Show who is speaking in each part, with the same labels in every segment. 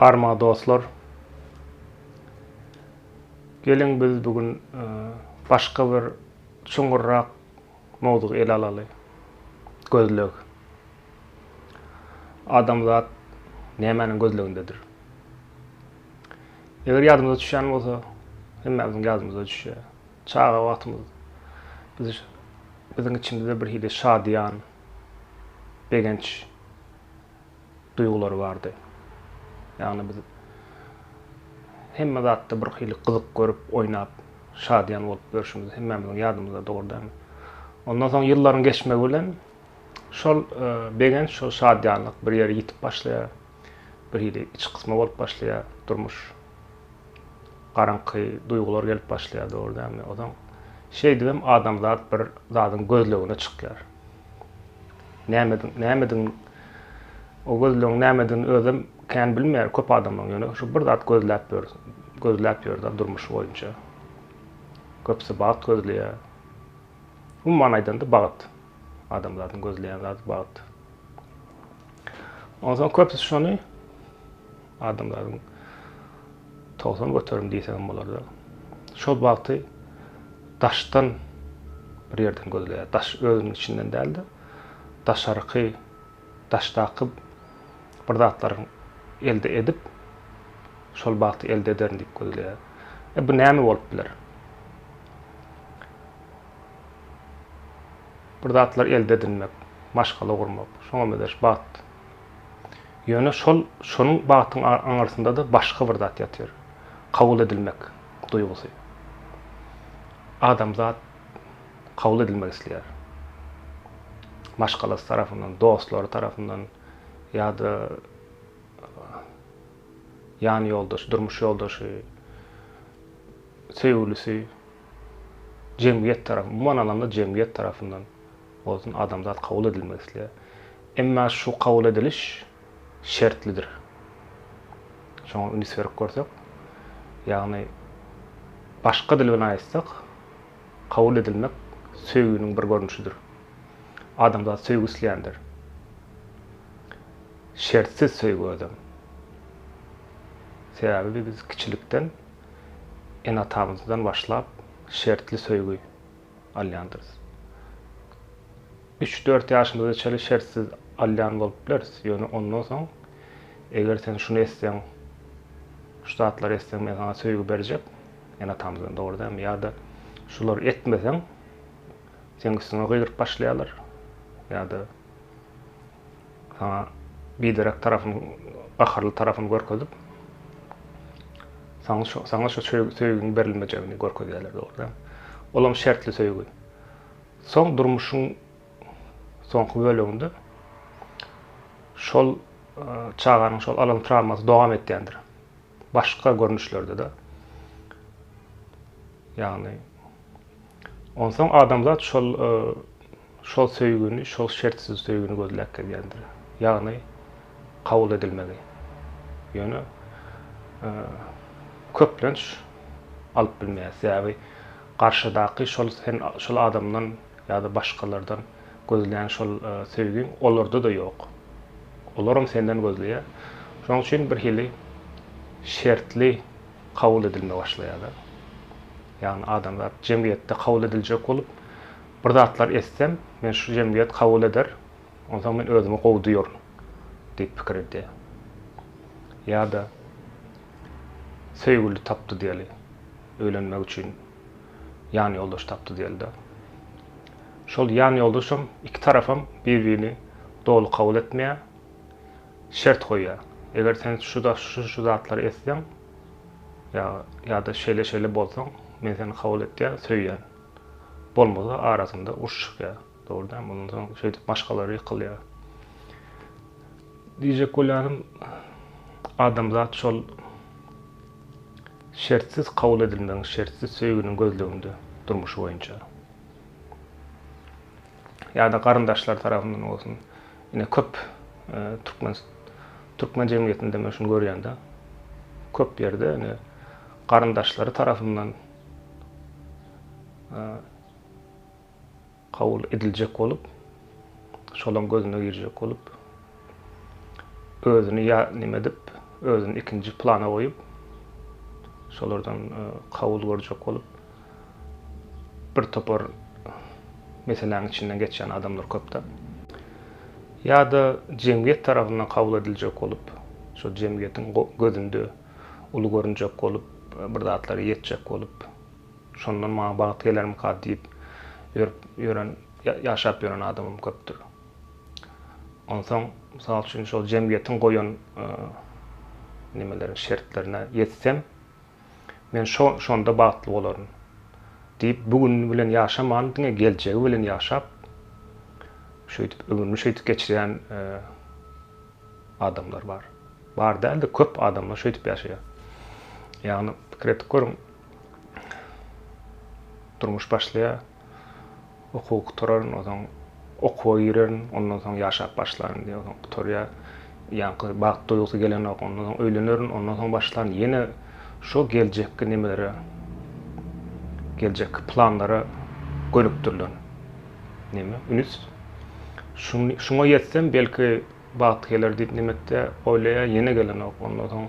Speaker 1: Arma dostlar. Geliň biz bu gün e, başga bir çuňurrak mowzuk ele alaly. Gözleg. Adamzat nämäniň gözlegindedir? Eger ýadymyza düşen bolsa, hemmämiziň ýadymyza düşýär. Çaga wagtymyz biz biziň içimizde bir hili şadyýan, begenç duýgulary bardy. Ýagny biz hemme zatda bir hili gyzyk görüp, oýnap, şadyýan bolup ýörşümiz hemmämiziň ýadymyzda dogrudanam. Ondan soň ýyllaryň geçmegi bilen şol begenç, şol şadyýanlyk bir ýeri ýitip başlaýar. Bir hili iç gysma bolup başlaýar durmuş. Garaňky duýgular gelip başlaýar, dogry dälmi? Onsoň şeýdibem adamzat bir zadyň gözlegine çykýar. Nämediň, nämedigini, o gözlegiň nämedigini özem kän bilmeýär köp adamlaryň, ýöne şu bir zat gözläp ýör, gözläp ýör-de durmuşy boýunça. Köpüsi bagt gözleýär. Umuman aýdanda bagt. Adamzadyň gözleýän zady bagt. Onsoň köpüsi şony. Adamlaryň togsan göterim diýseňem bolardy. Şol bagty daşdan bir ýerden gözleýär. Daş özüniň içinden däl-de, daşarky daşdaky bir zatlaryň elde edip, şol bagty elde ederin diýip gözleýär. E, bu näme bolup biler? Bir zatlar elde edinmek, maşgala gurmak, şoňa megerş bagt Ýöne şol şonuň bagtyň aňyrsynda-da başga bir zat ýatyr. Kabul edilmek duýgusy. Adamzat kabul edilmek isleýär. Maşgalasy tarapyndan, dostlary tarapyndan ýa-da ýan ýoldaşy, durmuş ýoldaşy, söýgülisi, jemgyýet tarapy, umuman alanda jemgyýet tarapyndan Bolsun adamzat kabul edilmek isleýär. Emma şu kabul ediliş şertlidir. Şoňa ünis berip görsek, ýagny başga dil bilen aýtsak, kabul edilmek söýginiň bir görnüşidir. Adamzat söýgi isleýändir. Şertsiz söýgi özem. Sebäbi biz kiçilikden ene-atamyzdan başlap şertli söýgi. alýandyrys. Üç-dört ýaşymyza çenli şertsiz alýan bolup bileris, ýöne ondan soň, eger sen şuny etseň, şu zatlary etseň men saňa söýgi berjek, ene-atamyzdan dogry dämi, ýa-da şulary etmeseň, seniň üstüňe gygyryp başlaýarlar, ýa-da. Saňa biderek tarapyny, gaharly tarapyny görkezip, saňa şu, saňa şu söýgiň berilmejegini görkezýärler, dogrudan. Olam şertli söýgi. Soň durmuşyň soňky böleginde şol çaganyň şol alan trawmasy dowam etýändir. Başga görnüşlerde-de. Ýagny Onsoň adamzat şol şol söýgini, şol şertsiz söýgini gözläp gelýändir. Ýagny kabul edilmegi. Ýöne köplenç alyp bilmeýär. Sebäbi garşydaky şol sen şol adamdan ýa-da başgalardan gözleýän şol söýgiň olarda-da ýok. Olaram senden gözleýär. Şonuň üçin birhili şertli kabul edilme başlaýar-da. Ýagny adamzat jemgyýetde kabul ediljek bolup, bir zatlar etsem, meni şu jemgyýet kabul eder, onsoň men özümi gowy duýaryn diýip pikir edýär. Ýa-da söýgüli tapdy diýeli, öýlenmek üçin ýanýoldaş tapdy diýeli-de. Şol ýanýoldaşam, iki tarapam bir-birini doly kabul etmeýär, şert goýýar. Eger sen şu-şu zatlary etseň, Ýa, ýa-da şeýle-şeýle bolsaň, men seni kabul etýän, söýýän. Bolmasa, arasynda uruş çykýar. Dogry dälmi? Ondan soň şeýdip maşgalalar ýykylýar. Diýjek bolýanym, adamzat şol şertsiz kabul edilmegiň, şertsiz söýginiň gözleginde durmuş boýunça. Ýa-da garyndaşlar tarapyndan bolsun, Ine köp türkmen türkmen jemgyýetinde men şuny görýän-de. Köp ýerde ine garyndaşlary tarapyndan kabul ediljek bolup, şolaň gözüne girjek bolup, özüni ýa nime edip, özüni ikinji plana goýup, şolardan kabul görjek bolup, bir topar meseläniň içinden geçýän adamlar köp-de. Ýa-da jemgyýet tarapyndan kabul ediljek bolup, şol jemgyýetiň gözünde uly görünjek bolup, bir zatlara ýetjek bolup, şondan maňa bagt gelermika diýip ýörüp ýören, ýaşap ýören adamym köpdür. Onsoň, mysal üçin, şol jemgyýetiň goýan nemeleriň şertlerine ýetsem, Men şo-şonda bagtly bolaryn. Diýip, bu güni bilen ýaşaman, diňe geljegi bilen ýaşap, şeýdip, ömrüni şeýdip geçirýän adamlar bar. Bar däl-de, köp adamlar şeýdip ýaşaýar. Ýagny, pikir edip görüň, durmuş başlaýar. Okuwy gutararyn, ozaň okuwa girerin, ondan soň ýaşap başlaryn diýýär. Ozaň gutarýar. Ýaňky bagt duýgusy gelenok. Ondan soň öýlenerin, ondan soň başlaryn. Ýene şo geljekki nemelere, geljekki planlara gönükdirilen neme, üns. Şuňa ýetsem, belki bagt geler diýip, nemetde oýlaýar, ýene gelenok. Ondan soň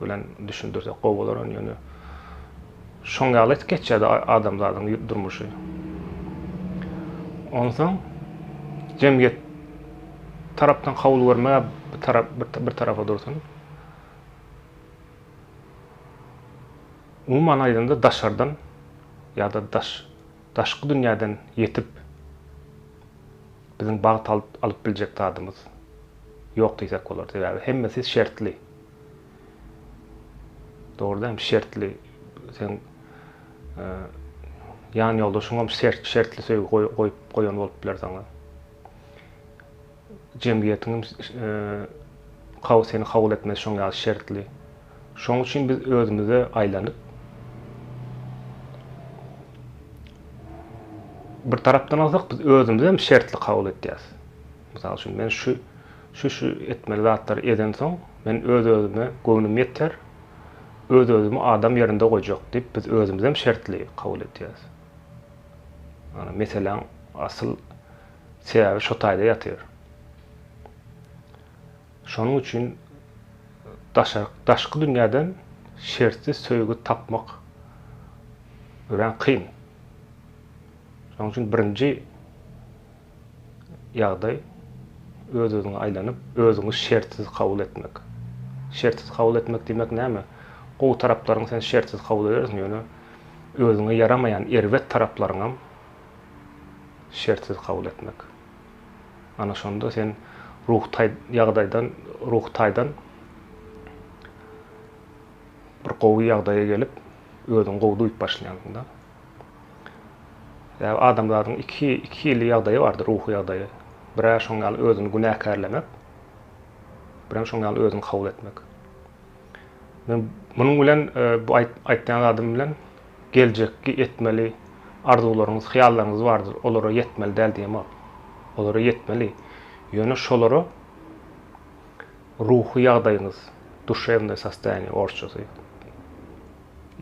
Speaker 1: bilen düşündirsek gowy bolar ony ýöne şoň ýaly geçýärdi adamzadyň durmuşy. Onsoň jemgyýet tarapdan kabul görme bir tarap bir tarafa dursun. Umuman aýdanda daşardan ýa-da daş daşky dünýäden ýetip Biziň bagt alyp biljek zadymyz ýok diýsek bolar. Sebäbi hemmesi şertli. Dogrudan hem şertli sen e, ýan ýoldaşyň hem şertli söýgi goýup goýan bolup biler saňa. Jemgyýetiň hem e, seni kabul etmesi şoň ýaly şertli. Şoň üçin biz özümize aýlanyp, bir tarapdan alsak, biz özümizem şertli kabul etýäs. Mysal üçin, men şu şu şu etmeli zatlary edensoň, men öz-özüme göwnüm ýeter, öz-özümi adam ýerinde goýjak diýip, biz özümizem şertli kabul etýäs. Ýagny meseläň asyl sebäbi şo taýda ýatyr. Şonuň üçin daşky dünýäden şertsiz söýgi tapmak örän kyn. Şonuň üçin birinji ýagdaý öz-özüňe aýlanyp, özüňi şertsiz kabul etmek. Şertsiz kabul etmek diýmek näme? Gowy taraplaryňy sen şertsiz kabul edersiň, ýöne özüňe ýaramaýan erbet taraplaryňam şertsiz kabul etmek. Ana şonda sen ruhy taý ýagdaýdan ruhy taýdan bir gowy ýagdaýa gelip, özüňi gowy duýup başlaýaňda. Sebäbi adamzadyň iki iki hili ýagdaýy bardyr, ruhy ýagdaýy. Birä şoň ýaly özüni günäkärlemek, birem şoň ýaly özüňi kabul etmek. Men munuň bilen bu aýtýan zadym bilen geljekki etmeli arzuwlaryňyz, hyýallaryňyz bardyr, olara ýetmeli däl diýemok. Olara ýetmeli. Ýöne şolara ruhy ýagdaýyňyz, duşewnaý sostoýaniýe orsçasy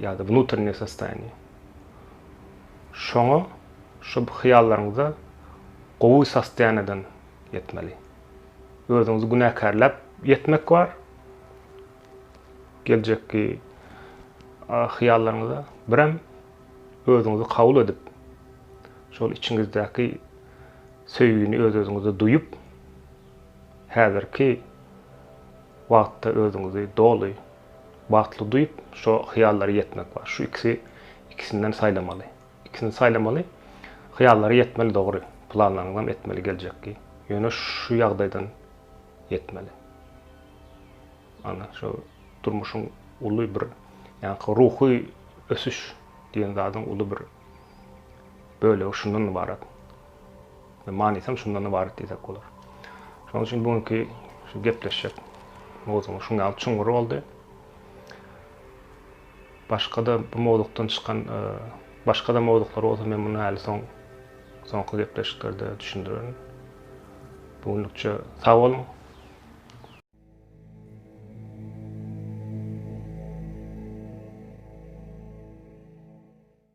Speaker 1: ýa-da wnutrnýe sostoýaniýe. Şoňa şu hyýallaryňyza gowy sostoýaniýeden ýetmeli. Özüňizi günäkärläp ýetmek bar, Geljekki hyýallaryňyza birem özüňizi kabul edip, şol içiňizdäki söýgini öz-özüňize duýup, häzirki wagtda özüňizi doly bagtly duýup, şo hyýallara ýetmek bar. Şu ikisi ikisinden saýlamaly. Ikisini saýlamaly. Hyýallara ýetmeli dogry, planlaryňyzam etmeli geljekki. Ýöne şu ýagdaýdan ýetmeli. Ana şu durmuşyň uly bir ýa-da ruhy ösüş diýen zadyň uly bir bölegi şundan ybarat. Ve manisam şundan ybarat diýsek bolar. Şonuň üçin bu günki şu gepleşjek mowzugyň şuň ýaly çuňňury boldy. Başga-da bu mowzukdan çykan e, başga-da mowzuklary bolsa men muny häli soň soňky gepleşiklerde düşündirerin. Bu günlükçe sag boluň.